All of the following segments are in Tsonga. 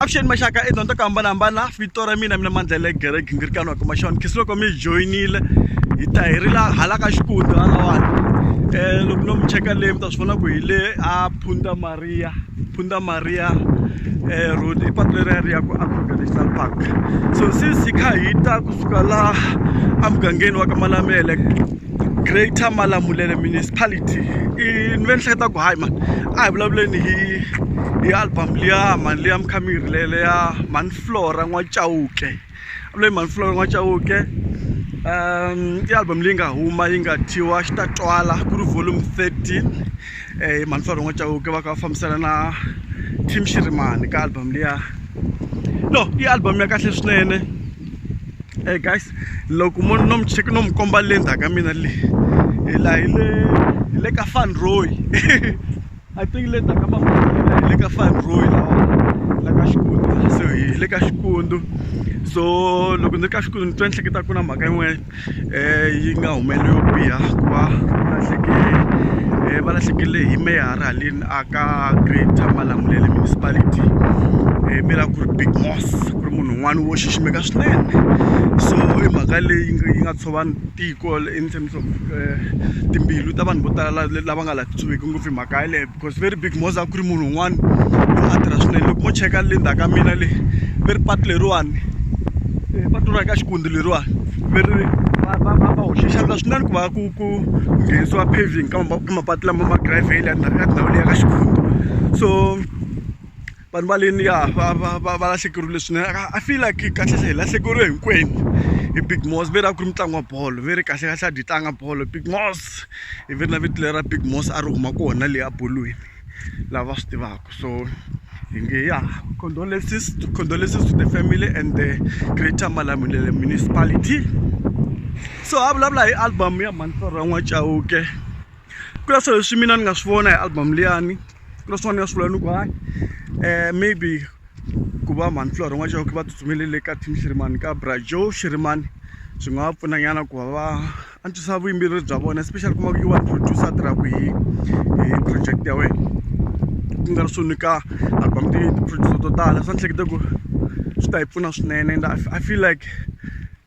Avuxeni maxaka i dyondzo ku hambanahambana vito ra mina mina mandlele gere gingirikano kuma xona khisi loko mi joyinile hi ta hi ri la hala ka xikundi halawani um eh, loko no mi cheka leyi mi ta swi vona ku hi le a phunda maria phunda maria um eh, road i patu leri ya ri ya ku africa national park so since hi kha hi ta kusuka la emugangeni wa ka malamele Greater Malamulele Municipality i ni ve ni hleketa ku hayi mani a hi vulavuleni hi hi album liya mani liya mukhamiri leyi leya mhani Flora N'wachauke leyi mhani Flora N'wachauke um i album leyi nga huma yi nga thyiwa xi ta twala ku ri volume thirteen eh, mantswalo n'wa chauke va ka va fambisana na tim shirimani ka album liya no i album ya kahle swinene e guys loko mo no mucheki no mi komba le ndzhaku ka mina leyi hi la hi le hi le ka fanroy i think le ndzhaku ka mafana hi le ka fanroy lawa la ka xikundu so hi le ka xikundu so loko ni ri ka xikundu ni twa ni hleketa ku na mhaka yin'wana um yi nga humeleli yo biha ku va va lahlekele hi meyara haleni a ka greater malamulele municipality mi lava ku ri big moss ku ri munhu un'wana wo xiximeka swinene so i mhaka leyi yi nga tshova tiko in terms of timbilu ta vanhu vo tala lava nga laha titshoveki ngopfu hi mhaka yaleyo because very big moza a ku ri munhu un'wana loyi a tirha swinene loko mo cheka le ndzhaku ka mina le ve ri patu leriwani eh, patu ra ka xikundi leriwani ve ri va hoxe xandla swinene ku va ku ku nghenisiwa paving ka mapatu lama ma gravele ya tindhawu leyi ya ka xikundi so vanhu va leni ya va va va va lahlekeriwile swinene i feel like kahlekahle hi lahlekeriwe hinkwenu hi big mos ve ri a ku ri mitlangu wa bolo ve ri kahlekahle a dyi tlanga bolo big mos hi ve ri na vito lera big mos a ri huma kona leyi a bolweni lava swi tivaka so hi nge ya condolences condolences to the family and the greater malamulele municipality so a vulavula hi album ya mhani torha n'wacauke ku na swilo leswi mina ni nga swi vona hi album liyani ku na swin'wana ni nga swi vula ni ku hayi um maybe ku va mhani flora n'wa chauke va tsutsumelele ka team xirimani ka bra joe xirimani swi nga va pfuna nyana ku va va antswisa vuyimbeleri bya vona especially kuma ku i one producer a tirhaka hi hi project ya wena ku nga ri swo nyika album ti ti-producer to tala swa ni hleketa ku swi ta hi pfuna swinene and i feel like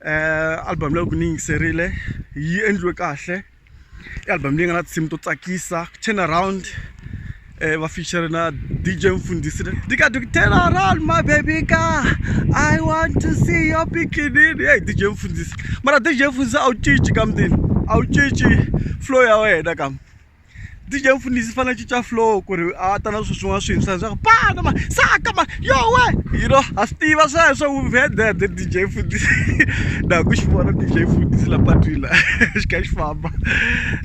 um album leyi loko ni yingiserile yi endliwe kahle i album leyi nga na tinsimu to tsakisa turn around eh, va feature na dj mfundisi tika turn around my baby ka i want to see your bikinini hey dj mfundisi mara dj mfundisi a wu cinci kamdini a wu cinci flow ya wena kam DJ Mfundisi fana cinca flow ku ri a ta na swilo swin'wana swintshwa leswaku pana ma saka ma yo we you know ha swi tiva sweswo we've heard that the DJ Mfundisi na ha ku xi vona DJ Mfundisi la patwini la xi kha xi famba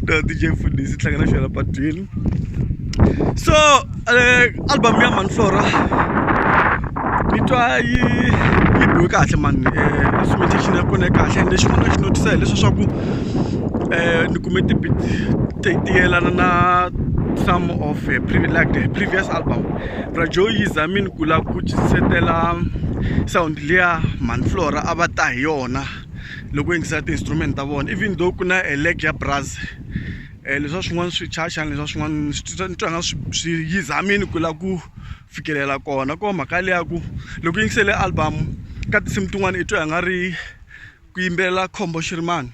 no DJ Mfundisi i tlanga na xona la patwini so uh, album ya Manflora ni twa yi yi biwe kahle mani uh, instrumentation ya kona ya kahle and lexin'wana na xi notice hileswa swa ku um ni kume tibit ti ti yelana na some of her previous, like her previous album brajoy yi zamini ku lava ku cisetela sound liya manflora a va ta hi yona loko yingisa ti-instrument ta vona even though ku na eleg ya braz um eh, leswa swin'wana swi chachani leswa swin'wana swi twa nga swi yi zamini ku lava ku fikelela kona ko mhaka leya ku loko yingisele album ka tinsimu tin'wana i twa nga ri ku yimbelela khombo xirimani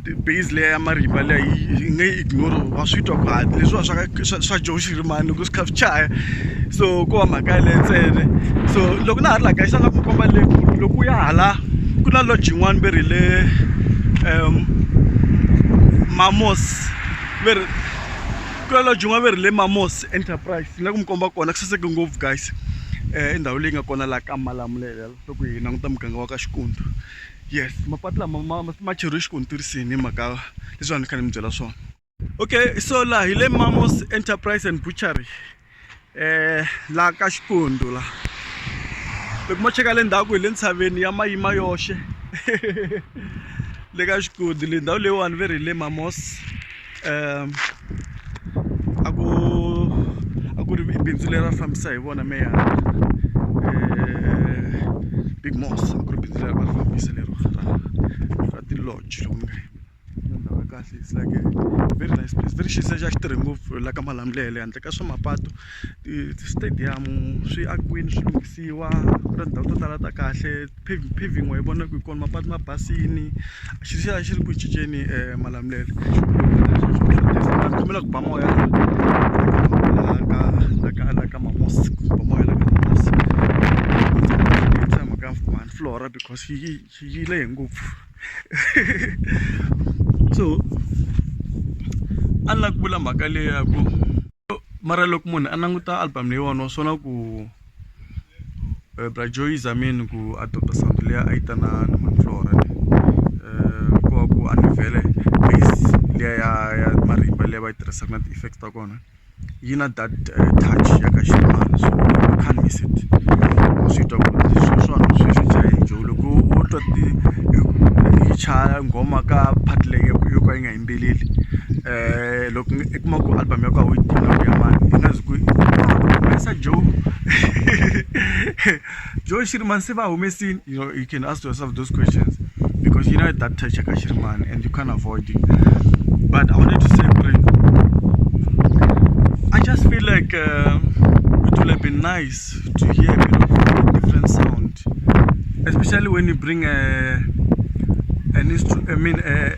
base leya ya marimba leyi yi nga yi ignore wa swi twa ku hatla leswiwa swa ka swa swa joe xirimani loko swi kha swi chaya so ko wa mhaka yaleyo ntsena so loko na ha ri la kaya xana ku komba le loko u ya hala ku na lodge yin'wana ve ri le um mamos ve ri ku na lodge yin'wana ve ri le mamos enterprise ni la ku mi komba kona ku saseke ngopfu guys i ndhawu leyi nga kona laha ka malamulelo loko hi languta muganga wa ka xikundu. yes mapatu lama ma ma cheriwe xikontiri ni mhaka leswi a ni kha ni mi byela swona okay so laha hi le mamos enterprise and butchery um laha ka xikundu la loko mo cheka le ndhaku hi le ntshaveni ya mayima yoxe le ka xikundu le ndhawu leyiwani ve ri hi le mamos um a ku a ku ri bindzu leri a fambisa hi vona meyara um big mos a ku ri bindzu leri va ri fambisa lero ra ra ti-lodge loko ni nga ndhawu ya kahle it's like a very nice place very xisa xa xitirhi ngopfu la ka malamulele handle ka swa mapatu ti-stadium swi akiwini swi lunghisiwa ku na tindhawu to tala ta kahle paving wa yi vona ku hi kona mapatu ma basini xi xi xi ri ku cinceni um malamulelo kombela ku ba moya ka mamos ku ba moya la ka mamos tshama ka one floor because yi yi lehe ngopfu so a ni la ku vula mhaka leyaku mara loko munhu a languta album leyiwani wa swona ku eh, bra joy zamini ku a tota santo leya a yi ta na na maflora eh, ku va ku anivele base leya ya ya marimba leyi va yi tirhisaka na ti-effects ta kona yi na that eh, touch ya ka ximani so you can't miss it swi twa ku swilo swa hanu swi swi jahe joe loko wo twa ti yi chaya nghoma ka part leyi yo ka yi nga yimbeleli um loko i kuma ku album ya ku a wu yi tivi loko ya mani i nga zi ku humesa joe joe xirimani se va humesini you know you can ask yourself those questions because you know that touch ka xirimani and you can't avoid it but i wanted to say ku ri i just feel like uh, it would have been nice to hear a bit of a different sound especially when you bring a an instrument i mean a,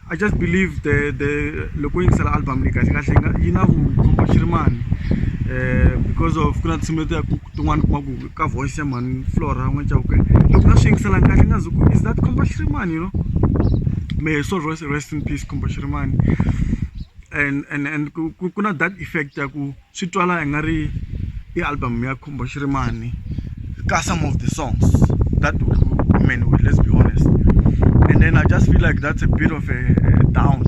I just believe the the loko u yingisela album leyi kahle kahle yi nga yi na vukhomba xi ri mani um because of ku na tinsimu leti ya tin'wana kuma ku ka voice ya mani flora n'wana chauke loko na swi yingiselanga kahle nga zi ku is that khomba xi ri mani you know may so rest in peace khomba xi ri mani and and and ku ku na that effect ya ku swi twala i nga ri i album ya khumba xirimani ka some of the songs that women with let's be honest and then i just feel like that's a bit of a, a down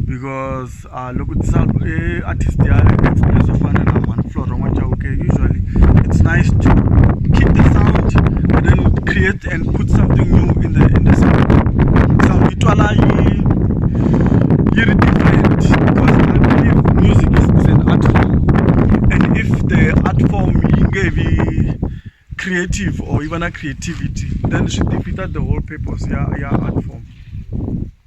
because uh, loko tisa e artist ya experience yo fana na man flora n'wachauke usually it's nice to keep the sound and then create it and put something new in the in the song so yi twala yi yi ri different because I believe music is, is an art form and if the art form yi nge vi creative or yi va na creativity then swi defeater the whole purpose ya ya art form.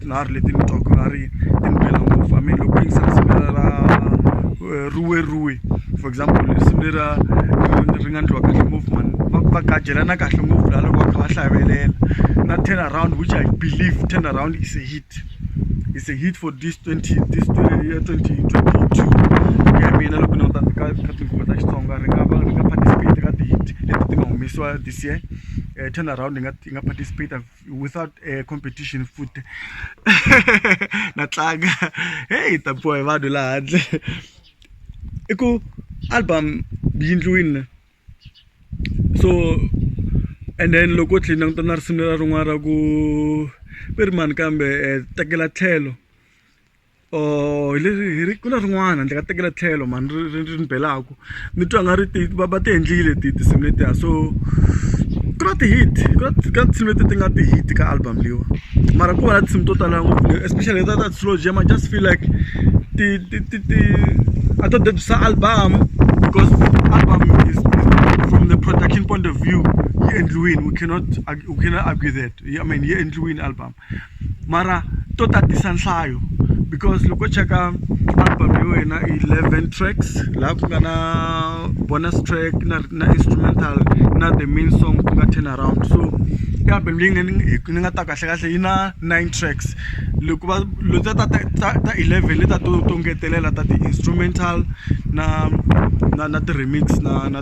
titlilari leti ni twaka nga ri ti ni bela ngopfu i mean loko ku yingisa risimu lera ra eh, ruweruwe for example risimu lera ri nga ndliwa kahle ngopfu mani va va gajelana kahle ngopfu laha loko va kha va hlavelela na turn around which i believe turn around is a hit is a hit for this 20 this 20 year 2022 ya mina loko ni ta ka ka tinguva ta Xitsonga ri nga va ri nga participate ka ti-hit leti ti nga humesiwa this year eh, turn around yi nga yi nga participate without uh, competition futhi na tlanga heyi hi tapiwa hi vanhu laha handle i ku album yi ndliwini so and then loko u tlhela languta na risimu ra rin'wana ra ku i ri mani kambe eh, tekela tlhelo or hi leri hi ri ku na rin'wana ndzi nga tekela tlhelo mhani ri ri ri ni belaku ni twa nga ri ti va va ti endlile ti tinsimu letiya so ku na ti-hit ku na ka tinsimu leti ti nga ti-hit ka album leyiwa mara ku va na tinsimu to tala ngopfu especially ta ta slow jam i just feel like ti ti ti ti a to debisa album because album is, is from the production point of view yi endliwini we cannot we cannot argue that i mean yi endliwini album mara to tatisa nhlayo because loko cheka album ya wena i 11 tracks laha ku nga na bonus track na, na instrumental na the main song ku nga turn around so i album leyi nga ni nga ta kahle kahle yi na 9 tracks loko va leta ta ta ta 11 leta to to ngetelela ta ti-instrumental na na na ti-remix na na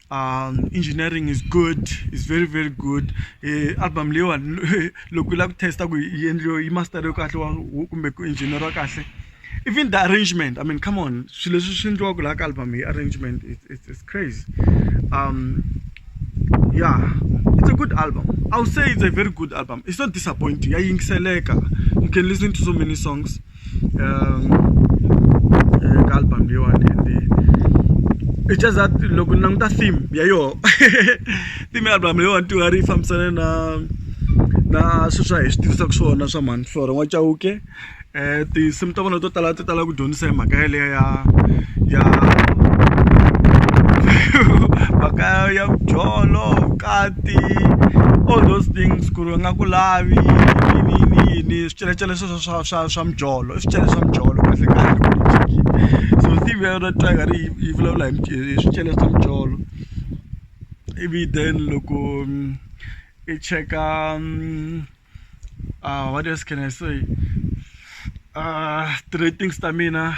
um engineering is good is very very good um album leyiwani loko yi lava ku test-a ku yi endliwe yi masteriwe kahle wa kumbe ku engineer-iwa kahle even the arrangement i mean come on swilo leswi swi endliwaka laha ka album hi arrangement it's crazy um yeah it's a good album i would say it's a very good album it's not disappointing ya yingiseleka you can listen to so many songs ka album leyiwani and it's just that loko ni languta theme ya yoho theme ya album leyiwani ti nga ri yi fambisane na na swilo swa hi swi tivisaka swona swa mhani flora n'wa chauke um tinsimu ta vona to tala ti tala ku dyondzisa hi mhaka yaleyo ya ya mhaka ya byolo vukati all those things ku ri va nga ku lavi yini yini yini swicelacela sweswo swa swa swa mijolo i swicele swa mijolo kahle kahle so team ya yona tiger yi yi vulavula hi hi swicele swa mijolo ivi then loko i cheka what else can I say ti-ratings ta mina.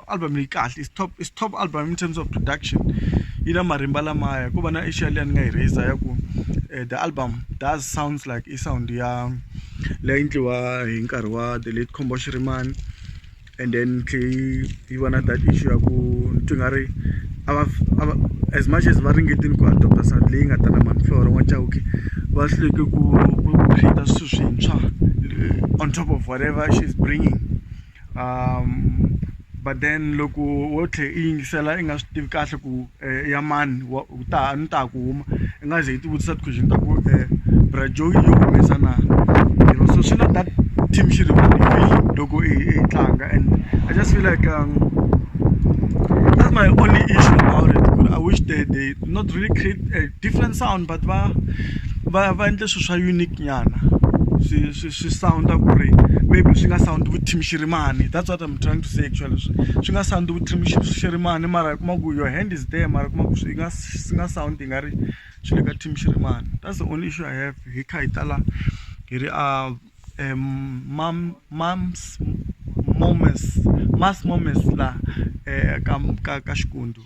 album leyi kahle is top is top album in terms of production yi na marimba lamaya ku va na asia leyi ni nga yi raiser ya ku eh, the album does sounds like i sound ya leyi endliwa hi nkarhi wa the late combo shirimani and then tlhei yi va na that issue ya ku ni twi nga ri as much as va ringetini ku adopta sound leyi nga ta na manflora n'wa chauke va hluleke ku creata swilo swintshwa eh, on top of whatever she's bringing um but then loko wo tlhe i yingisela i nga swi tivi kahle ku eh, ya mani wa u ta ni ta ku huma i nga ze i tivutisa ti-question ta ku um eh, brajo yi yo humesa na you know so swi la that team xi ri loko i tlanga and i just feel like um, that's my only issue about it i wish they they not really create a different sound but va va va endle swilo swa unique nyana swi swi swi sound-a ku ri maybe swi nga sound vuthimxirimani that's what im trying to say actually swi swi nga sound vuthimxirimani mara i kuma ku your hand is there mara i kuma ku swi nga swi nga sound i nga ri swi le ka thimxirimani that's the only issue i have hi kha hi tala hi ri a um mam mams moments mass moments laha um ka ka ka xikundu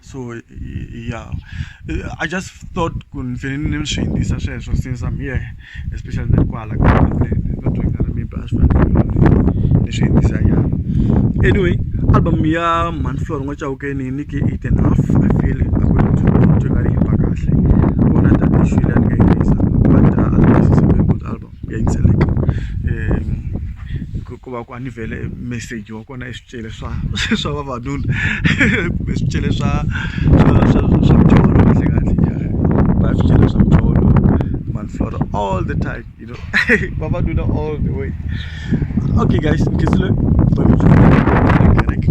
so ya i just thought ku ni fanele ni ni swi yingisa sweswo since I'm here especially na kwala ka maybe a swi fanele ni swi yingisa nyana anyway album ya man floor ngo chawukeni ni ke eight and half i feel according to me to nga ri himba kahle kona tani shwile ni nga yingisa but uh, album is a very good album ku ya yingiseleka ku va ku a ni vhele meseji wa kona i swicele swa swa vavanuna kumbe swicele swa swa swa swa mucholo kahle kahle ya va swicele swa mucholo manhlolo all the time you know vavanuna all the way okay guys nkizile kereke